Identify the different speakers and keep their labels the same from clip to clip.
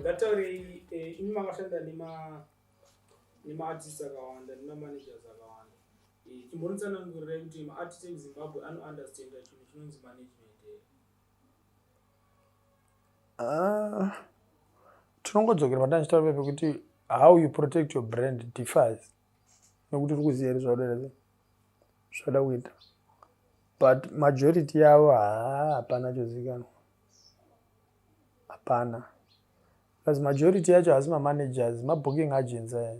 Speaker 1: ngataurei
Speaker 2: eh, imi makashanda nemaartist akawanda nemamanagers akawanda eh, chimbonitsanangurirai kuti maartist emuzimbabwe anounderstanda chinhu chinonzi management eh? ah,
Speaker 3: tinongodzokera patanchitaura pepe kuti how you protect your brand differs nekuti uri kuziva here zvauda here zvauda kuita but majority yavo haa hapana chozikanwa hapana plus majority yacho haasi mamanagers mabooking agents aya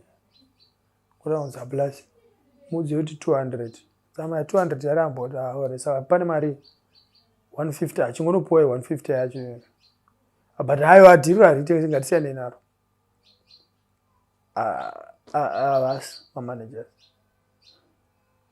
Speaker 3: kuda kunzi plus mudzi yoti 200 tsama ya 200 yaramba kuti aore saka pane mari 150 achingonopuwa 150 yacho but hayo adhiriro haritengesi ngatisiyanei naro avasi ah, ah, ah, mamanagers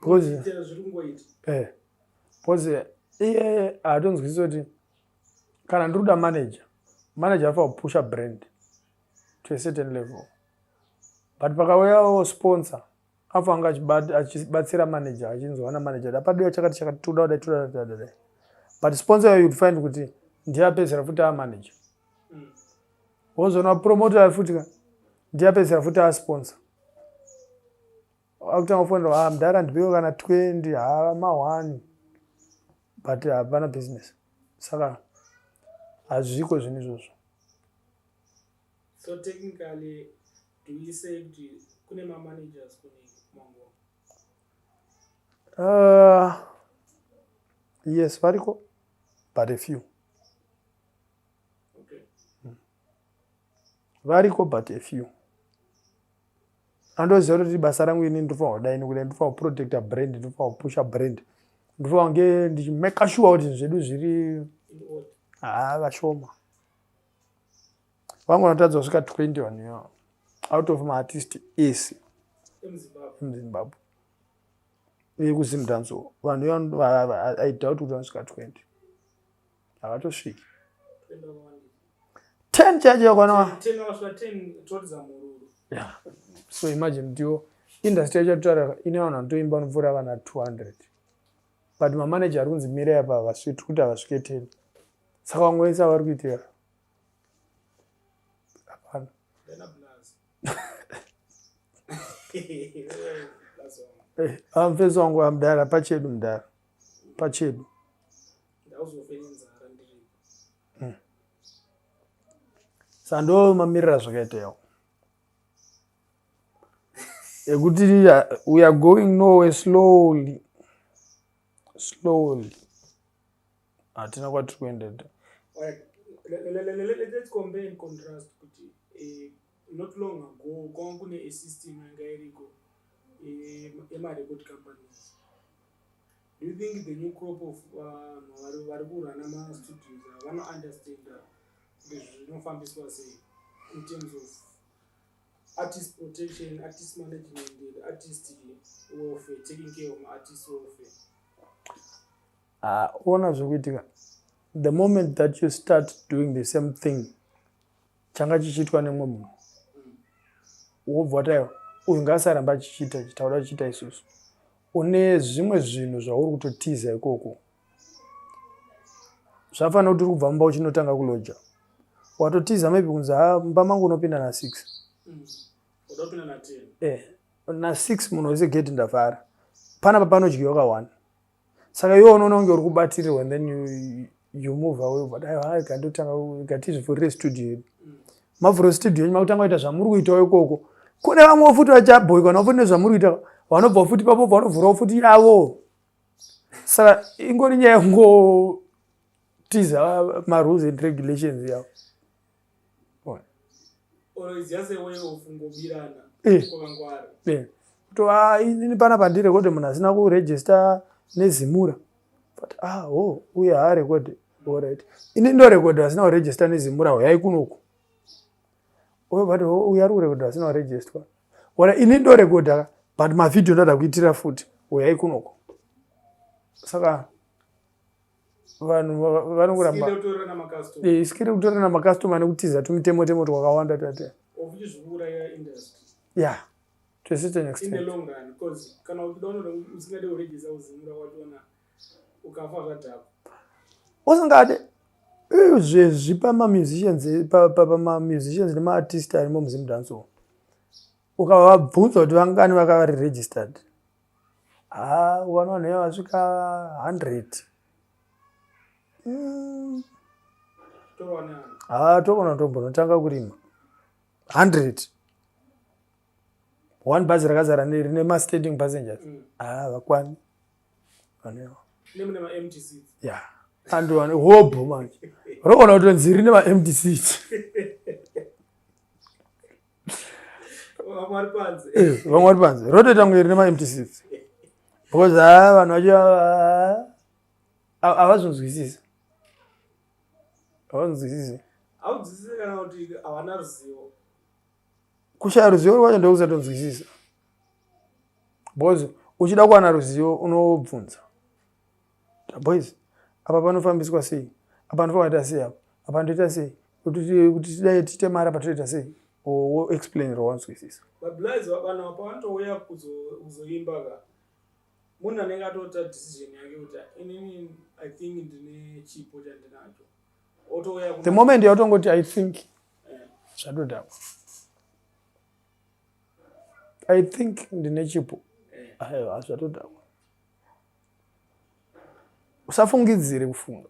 Speaker 3: bcause eh, iye haatonzwisisa kuti kana ndiri kuda manager manager afa kupusha brand to a certain level but pakauyawo sponsor afa anga achibatsira manager achinzwa ana manager da padiwa chakati chakati toda kudai toda kudai toda kudai but sponsor yoyou'd find kuti ndiye apedzera futi amanager wozona promote ayo futi ka ndiyapedzera futi asponsor akutanga kufonera ha ah, mdhara ndipewo kana 20 ha ma 1 but hapana business saka hazviko zvinhu izvozvo
Speaker 2: so technically do you say kuti kune mamanagers kune mangoma uh, ah,
Speaker 3: yes variko but a few variko but a few andoziva kuti basa rangu ini ndinofanira kudai nokudai ndinofanira kuprotecta brand ndinofanira kupusha brand ndinofanira kunge ndichimaka shuwa kuti zvedu zviri haa vashoma vangu vanotadza kusvika 20 vanhu out of maartist ese emuzimbabwe vekuzimdanso vanhu i doubt kuti vanosvika 20 havatosviki ten chacho yakwana so imagine ndiwo industry yacho yatotara ine vanhu vanotoimba vanopfuura vana 200 but mamaneja ari kunzi mira yapa havasviti kuti havasvike ten saka wangoisa vari kuitira hapana amfesi wangu amdara pachedu mdara pachedu hmm. sando mamirira zvakaitawo ekuti we are going nowhere slowly slowly hatina kwatiri kuendeta
Speaker 2: let's compare and contrast kuti eh, not long ago kwanga kune a system yanga iriko eh, yemarecord companies Do you think the new crop of vanhu vari kurana mastudios ava vanounderstanda kuti zvinofambiswa sei in terms of artist protection artist management and artist welfare taking care of maartist welfare
Speaker 3: ah, ona zvekuitika the moment that you start doing the same thing changa chichiitwa nemumwe munhu wobva wataiwa uyu ngaasaramba achichiita ichi tauda kuchiita isusu une zvimwe zvinhu zvauri kutotiza ikoko zvafanira kuti uri kubva mumba uchinotanga kuloja watotiza maybe kunzi ha mumba mangu unopinda nasix mm. eh, nasix munhu wese gate ndavhara panapa panodyiwa ka one saka iwe unoona kunge uri kubatirirwa and then you, you move away but aiwa ikandotanga ikatizvivhurire studio yedu mavhuro studio yenyu makutanga kuita zvamuri kuitawo ikoko kune vamwe futi vachabhoikwa navo futi nezvamuri kuita vanobva futi papo vanovhurawo futi yavo saka ingori nyaya yongotiza marules and regulations yavo kutova ini pana pandirekode munhu asina kuregista nezimura but ah oh uye haarekode orit ini ndorekode asina kuregista nezimura huyai kunoku uyo but oh, uyo ari kurekode asina kuregistwa ora ini ndorekoda but mavhidhio ndoda kuitira futi uyai kunoko saka vanhu vanongoramba isikire kutora namakastoma nekutiza tumitemo temo twakawanda tate ya to a certain
Speaker 2: extent usingade
Speaker 3: zvezvi pamamusicians pamamusicians nemaartist arimo muzimdanso ukavabvunza kuti vangani vakari registered Haa ukanwa vanhu vaya vasvika 100 mm. haa togona tombonotanga kurima 100 one bhazi rakazara rine mastanding passengers mm. haa vakwani vanewa
Speaker 2: ya and
Speaker 3: vane hobho manje rogona kutonzi rine maempty seat vamwe vari panze eh, vamwe vari panze rotoita mwiri nemaempty seats because haa ah, vanhu vacho havazvinzwisisa havazvinzwisisa haudzisise kana
Speaker 2: kuti havana ruzivo
Speaker 3: kushaya ruzivo rwacho ndokusatonzwisisa because uchida kuwana ruzivo unobvunza Boys, apa panofambiswa sei? Apa ndofakaita sei apa? Apa ndoita sei? Kuti tidai tiite mari apa toita sei? Wo explain rowanzwisisa. Bablies vabana
Speaker 2: apa vanotouya kuzoimba ka. Munhu anenge atota decision yake kuti inini I think ndine chipo chandinacho. Otouya The moment yautongoti
Speaker 3: I think eh. zvadodhakwa. Yeah. I think ndine chipo. Eh. Ayo hazvatodhakwa. usafungidzire kufunga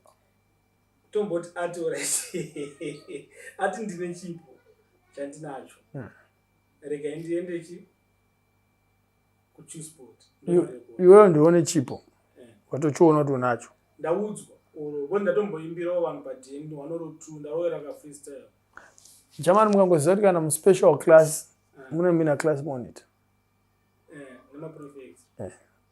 Speaker 3: tomboti
Speaker 2: ati orit ati ndine chipo chandinacho hmm. regai ndiende chi kuchusport iweyo
Speaker 3: ndione chipo eh. watochiona kuti unacho ndaudzwa
Speaker 2: vo ndatomboimbirawo vanhu padn wanorotu ndaroera kafreestyle german
Speaker 3: mukangoziva kuti kana muspecial class eh. mune mina class monitor eh, nemaprofect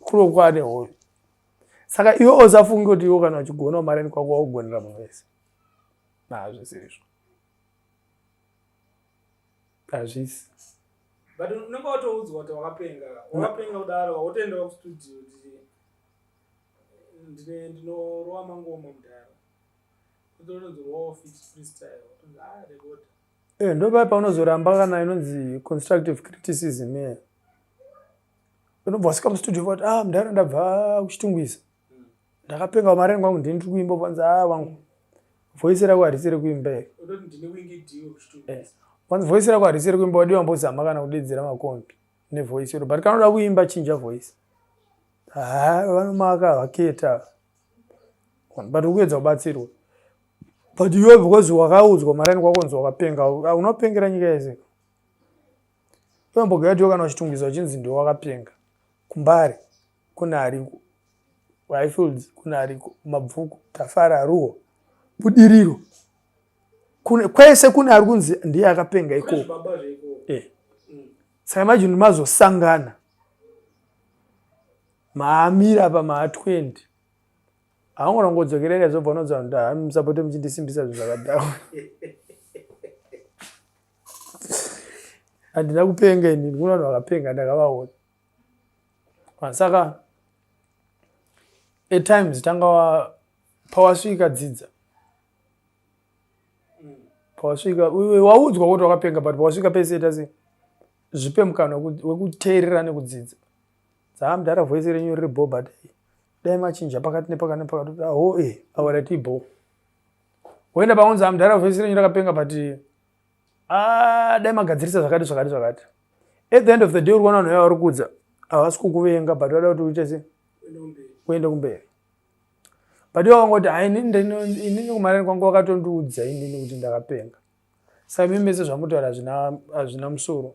Speaker 3: Kuroku ane hoyo. Saka iwe osafunge kuti iwo kana uchigona umareni kwako waugonera munhu wese. Nazvisirizvo. Hazvisi.
Speaker 2: But unenge watoudzwa kuti wakapenga. Wakapenga kudaro wotoenda kustudio kuti ndine ndinorowa mangoma mudhara. Kutononzi rowa fit freestyle. Ah, rekota. Eh, ndopai paunozoramba
Speaker 3: kana inonzi constructive criticism. Yeah. unobva wasvika mustudio vati ah mdara ndabva kuchitungwiza ndakapenga mari yangu wangu ndini ndiri kuimba vanzi ah wangu voice rako harisi rekuimba here eh, vanzi voice rako harisi rekuimba wadi wambozama kana kudedzera makombi nevoice iro but kanoda kuimba chinja voice ha vanomaka vaketa but ukuedza kubatsirwa but iwe because wakaudzwa maraini kwakonzi wakapenga unopengera nyika yese Unombogatiwo kana uchitungidzwa uchinzi ndiwo wakapenga kumbare kune ariko highfields kune ariko mabvuku tafara ruo budiriro kune kwese kune ari kunzi ndiye akapenga ikoko eh. mm. saka imajini mazosangana maamira apa maa 20 haungona kungodzokerera izobva unonzwa kuti hamusapoti muchindisimbisa zvinhu zvakadhakwa handina kupenga ini ndikuno vanhu vakapenga ndakavaona saka etimes tanga wa pawasvika dzidza pawasvika waudzwa kuti wakapenga but pawasvika pese tasi zvipe mukana wekuteerera nekudzidza dzaa mdara voice renyu riri bo but dai machinja pakati nepakati nepakati kuti aho e eh, awarati bo woenda paunzi amudhara ah, vhesi renyu rakapenga but ah, dai magadzirisa zvakati zvakati zvakati at the end of the day uri kuona vanhu vaya vari kudza havasi kukuvenga but vada kuti uite se uende kumberi but iwe wangoti hai inini kumarani kwangu wakatondiudza inini kuti ndakapenga saka mimi mese zvamutoara hazvina musoro